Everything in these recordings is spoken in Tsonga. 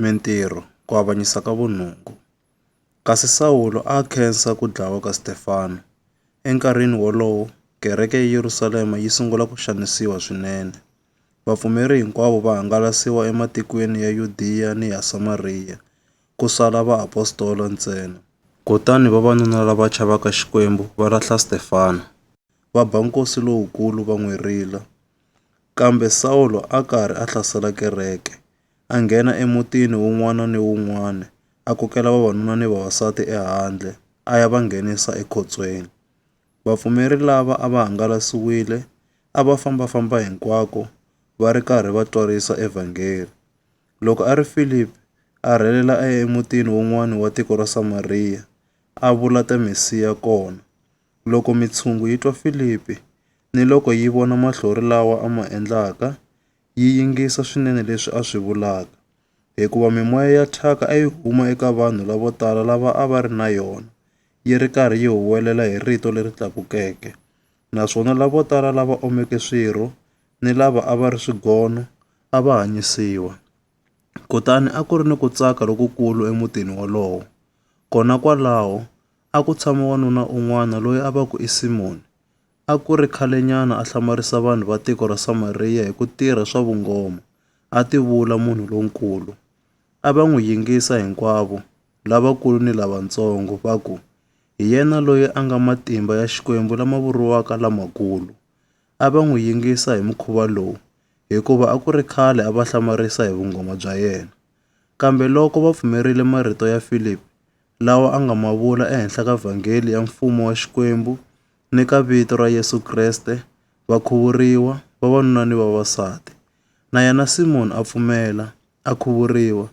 Mintirho, Ku Avanyisa ka Vunungu, Kasi Sawulo a a khensa ku dlawa ka Stefano. Enkarhini wolowo, kereke eYerusalema yi sungula ku xanisiwa swinene. Vapfumeri hinkwavo va hangalasiwa ematikweni ya Yudiya ni ya Samariya, ku sala vaapostola ntsena. Kutani vavanuna lava chavaka Xikwembu va lahla Stefano, va ba nkosi lowukulu va n'wi rila. Kambe Sawulo a karhi a hlasela kereke, a nghena emutini wun'wana ni wun'wana, a kokela vavanuna ni vavasati ehandle, a ya va nghenisa ekhotsweni. Vapfumeri lava a va hangalasiwile a va famba-famba hinkwako va ri karhi va twarisa evhangeri. Loko a ri Filipi, a rhelela a ya emutini wun'wana wa tiko ra Samariya, a vula ta Mesiya kona. Loko mitshungu yi twa Filipi, Niloko yi vona mahlori lawa a ma endlaka, yi yingisa swinene leswi a swi vulaka, hikuva mimoya ya thyaka a yi huma eka vanhu lavo tala lava a va ri na yona, yi ri karhi yi huwelela hi rito leri tlakukeke. Naswona lavo tala lava omeke swirho ni lava a va ri swigono a va hanyisiwa. Kutani a ku ri ni ku tsaka lokukulu emutini wolowo. Kona kwalaho a ku tshama wanuna un'wana loyi a va ku i Simoni. a ku ri khalenyana a hlamarisa vanhu va tiko ra Samariya hi ku tirha swa vungoma, a tivula munhu lonkulu. A va n'wi yingisa hinkwavo, lavakulu ni lavatsongo, va ku, Hi yena loyi a nga matimba ya Xikwembu lama vuriwaka lamakulu. A va n'wi yingisa hi mukhuva lowu hikuva a ku ri khale a va hlamarisa hi vungoma bya yena. Kambe loko va pfumerile marito ya Filipi lawa a nga ma vula ehenhla ka vhangeli ya Mfumo wa Xikwembu, ni ka vito ra Yesu Kreste, va khuvuriwa, vavanuna ni vavasati. Na yena Simoni a pfumela, a khuvuriwa,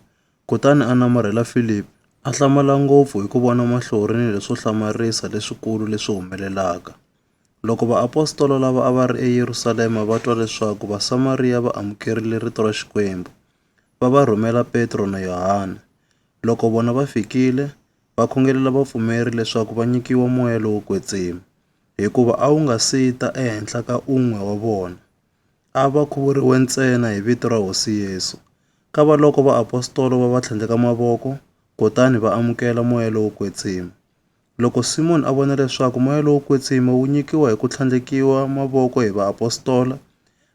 kutani a namarhela Filipi, a hlamala ngopfu hi ku vona mahlori ni leswo hlamarisa leswikulu leswi humelelaka. Loko vaapostola lava a va ri eYerusalema va twa leswaku Vasamariya va amukerile rito ra Xikwembu, va va rhumela Petro na Yohana. Loko vona va fikile, va khongelela vapfumeri leswaku va nyikiwa moya lowo kwetsima, hikuva a wu nga si ta ehenhla ka un'we wa vona. A va khuvuriwe ntsena hi vito ra Hosi Yesu. Kavaloko vaapostola va va tlhandleka mavoko kutani va amukela moya lowo kwetsima. Loko Simoni a vona leswaku moya lowo kwetsima wu nyikiwa hi ku tlhandlekiwa mavoko hi vaapostola,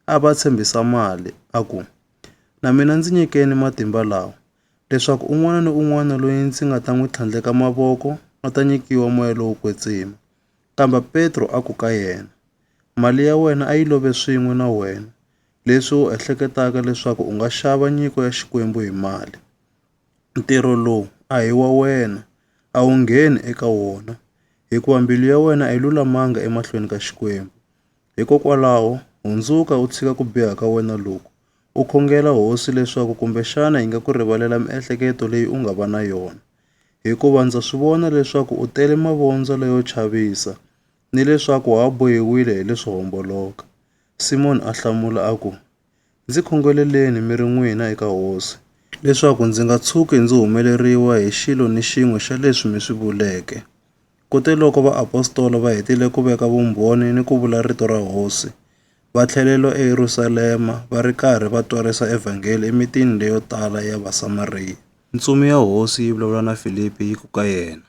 a va tshembisa mali, a ku, Na mina ndzi nyikeni matimba lawa, leswaku un'wana ni un'wana loyi ndzi nga ta n'wi tlhandleka mavoko a ta nyikiwa moya lowo kwetsima. Kambe Petro a ku ka yena, Mali ya wena a yi love swin'we na wena, leswi u ehleketaka leswaku u nga xava nyiko ya Xikwembu hi mali. Ntirho lowu a hi wa wena, a wu ngheni eka wona, hikuva mbilu ya wena a yi lulamanga emahlweni ka Xikwembu. Hikokwalaho, hundzuka u tshika ku biha ka wena loku, u khongela Hosi leswaku kumbexana yi nga ku rivalela miehleketo leyi u nga va na yona. Hikuva ndza swi vona leswaku u tele mavondzo leyo chavisa, ni leswaku ha bohiwile hi leswo homboloka. Simoni a hlamula a ku, Ndzi khongeleleni mi ri n'wina eka Hosi, leswaku ndzi nga tshuki ndzi humeleriwa hi xilo ni xin'we xa leswi mi swi vuleke. Kuteloko vaapostola va hetile ku veka vumbhoni ni ku vula rito ra Hosi, va tlhelelo eYerusalema va ri karhi va twarisa evhangeli emitini leyo tala ya Vasamariya. Ntsumi ya Hosi yi vulavula na Filipi yi ku ka yena,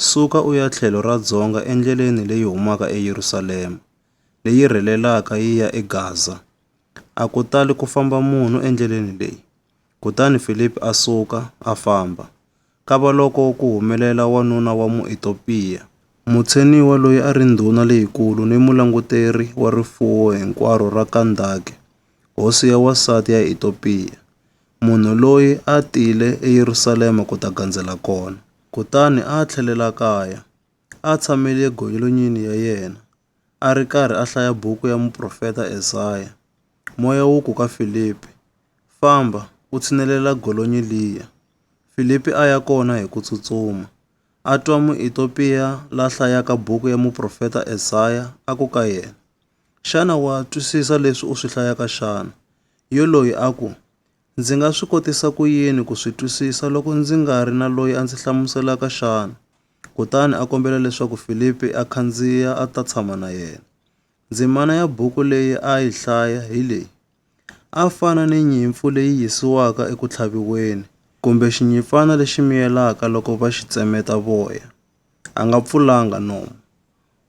Suka u ya tlhelo ra dzonga endleleni leyi humaka eYerusalema, leyi rhelelaka yi ya eGaza. A ku tali ku famba munhu endleleni leyi. Kutani Filipi a suka, a famba. Kavaloko ku humelela wanuna wa Muetopiya, mutsheniwa loyi a ri ndhuna leyikulu ni mulanguteri wa rifuwo hinkwaro ra Kandake, hosi ya wansati ya Etopiya, munhu loyi a tile eYerusalema ku ta gandzela kona, kutani a tlhelela kaya. a tshamele gonyelonyini ya yena, a ri karhi a hlaya buku ya muprofeta Ezaya, moya wu ku ka Filipi, Famba, u tshinelela golonyi liya. Filipi a ya kona hi ku tsutsuma. A twa Muitopiya la hlayaka buku ya muprofeta Ezaya a ku ka yena, Xana wa twisisa leswi u swi hlayaka xana? Yoloyi a ku, Ndzi nga swi kotisa ku yini ku swi twisisa loko ndzi nga ri na loyi a ndzi hlamuselaka xana? Kutani a kombela leswaku Filipi a khandziya a ta tshama na yena. Ndzimana ya buku leyi a yi hlaya hi leyi, A fana ni nyimpfu leyi yisiwaka eku tlhaviweni, kumbe xinyimpfana lexi miyelaka loko va xi tsemeta voya, a nga pfulanga nomu.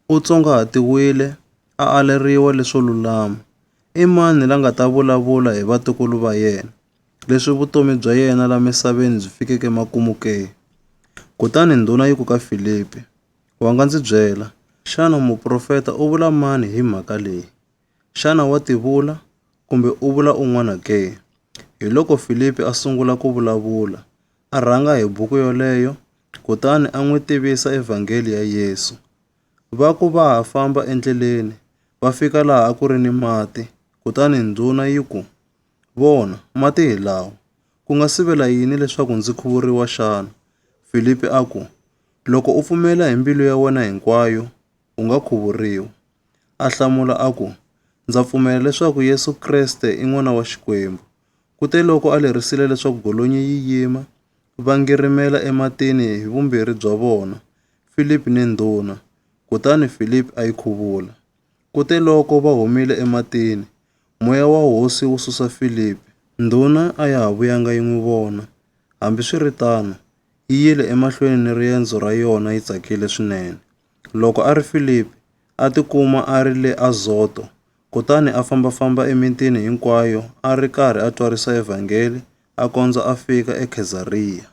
U tsongahatiwile, a aleriwa leswo lulama. I mani la nga ta vulavula hi vatukulu va yena? leswi vutomi bya yena la misaveni byi fikeke emakumu ke? Kutani ndhuna yi ku ka Filipi, Wa nga ndzi byela, xana muprofeta u vula mani hi mhaka leyi? Xana wa tivula, kumbe u vula un'wana ke? Hiloko Filipi a sungula ku vulavula, a rhanga hi buku yoleyo, kutani a n'wi tivisa Evhangeli ya Yesu. Va ku va ha famba endleleni, va fika laha a ku ri ni mati, kutani ndhuna yi ku, Vona, mati hi lawa. Ku nga sivela yini leswaku ndzi khuvuriwa xana? Filipi a ku, Loko u pfumela hi mbilu ya wena hinkwayo, u nga khuvuriwa. A hlamula a ku, Ndza pfumela leswaku Yesu Kreste i n'wana wa Xikwembu. Kuteloko a lerisile leswaku golonyi yi yima, va ngirimela ematini hi vumbirhi bya vona, Filipi ni ndhuna, kutani Filipi a yi khuvula. Kuteloko va humile ematini, Moya wa hosi wu susa Filipi. Ndhuna a ya ha vuyanga yi n'wi vona. Hambiswiritano, yi yile emahlweni ni riendzo ra yona yi tsakile swinene. Loko a ri Filipi, a tikuma a ri le Azoto, kutani a famba-famba emitini hinkwayo a ri karhi a twarisa Evhangeli a kondza a fika eKhezariya.